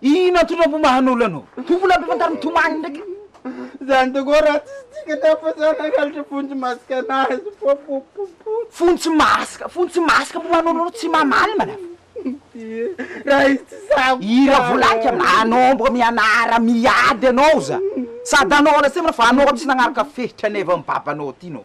Ino antotra mpo mahanolo anao? Tompo la mpifantaro mitomany ndraiky. Zany tokoa raha tsisy dikany hafa zany hangalatra fontsy masaka anazy popopopo. Fontsy masaka, fontsy masaka mpo mahanolo anao tsy mamaly manafo. Ie, raha izy tsy sahabo tsara. I Ravolanika manomboka mianara miady anao za. Sady anao lasema fa anao tsy nagnaraka fehitran'evam-babanao ty nao.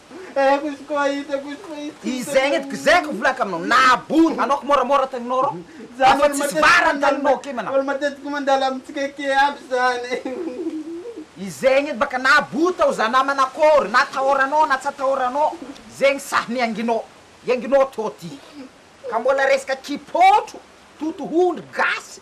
Izay anie gzay ko volako aminao nahabony anao ko môramôra taninao rô afa tsisy vara ny taninao akia manao Olo matetiky mandalo amintsika akia aby zany Izay anie baka nahabony tao za namana akôry na atahoranao na tsy atahoranao zegny sahy mianginao ianginao tô ty ka mbôla resaka kipôtro totohondry gasy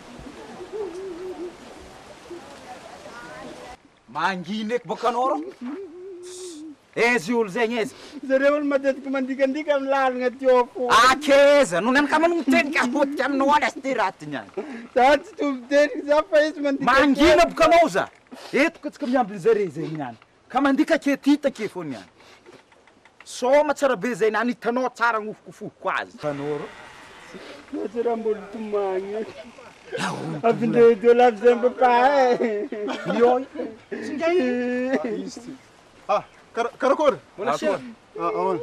Mangina eky bôka anao rô. Aiza io olo zegny aiza? Zareo olo matetiky mandikandika amin'ny lalagna aty Ôfo. Akeza no nanakama no miteny ka potika aminao any aza ty raha ty niany. Za tsy tompo teny za fa izy mandikandika. Mangina boka anao za. Eto koa tsika miambina zareo zegny niany. Ka mandika ke tita ke fô niany. Sôma tsara be zay nany hitanao tsara nofokofohiko azy. Tanora. Mety raha mbola tomagny avy ndray edy eo lafy zay mba pahay. Ioi. Tsinday e. Izy ty. Ha, kara, karakôry? Mbola cher. Ah, ahoana?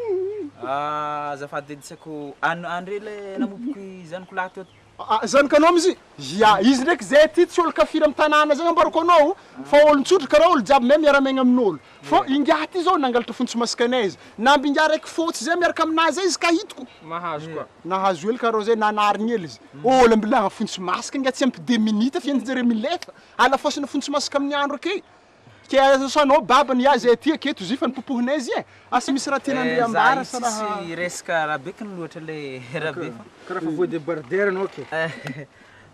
Ah, azafady edy tsy haiko, an, andre le namopoko i zanako lahy teo Aa zany ka nom izy? Ia izy ndraiky zay aty tsy olo kafiry am tanàna zay ambarako anao fa olo tsotra karaha olo jiaby mahay miara miaigna aminolo fô ingahy aty zao nangalatra fontsy masikanay izy namby ingahy raiky fôtsy zay miaraka aminah zay izy ka hitako nahazo hely karaha zay nanarigny hely izy olo mbilà fontsy masika ingahy tsy ampy deux minutes fa entinjare milefa alafôsana fontsy masaka aminy andro akey Ke aza sanao baba ny azy aty ake tozy fa ny popohinay zy e! Asa misy raha tiana ndry ambara sa raha. Tsisy hiresaka raha be kn loatra le raha be fa. Karaha fa voa debarder anao ke.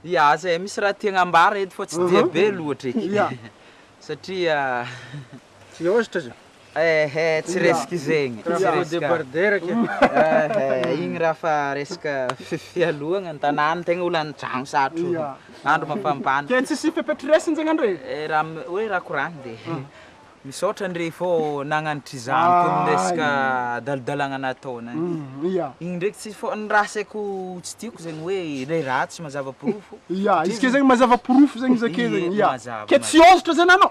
Ya aza e misy raha tiagna ambara eto fa tsy dia be loatra eky satria. Tsy ôhatra zany. Eh eh tsy resaka izegny, tsy resaka eh eh igny raha fa resaka fialohagna ny tanàna tegna olo an-tragno satro andro mafampana. Ke tsisy fepetra iraisana zegny andrey? Eh raha hoe raha koragny de misaotra ndrey fô nagnanatra izany koa ny resaka adalodalagna nataonay, igny ndreky tsy fô ny raha asaiko tsy tiako zegny hoe le ratsy mazava porofo, ya izy ke zegny mazava porofo zegny izy ake zegny, ya ke tsy ôhatra zany anao?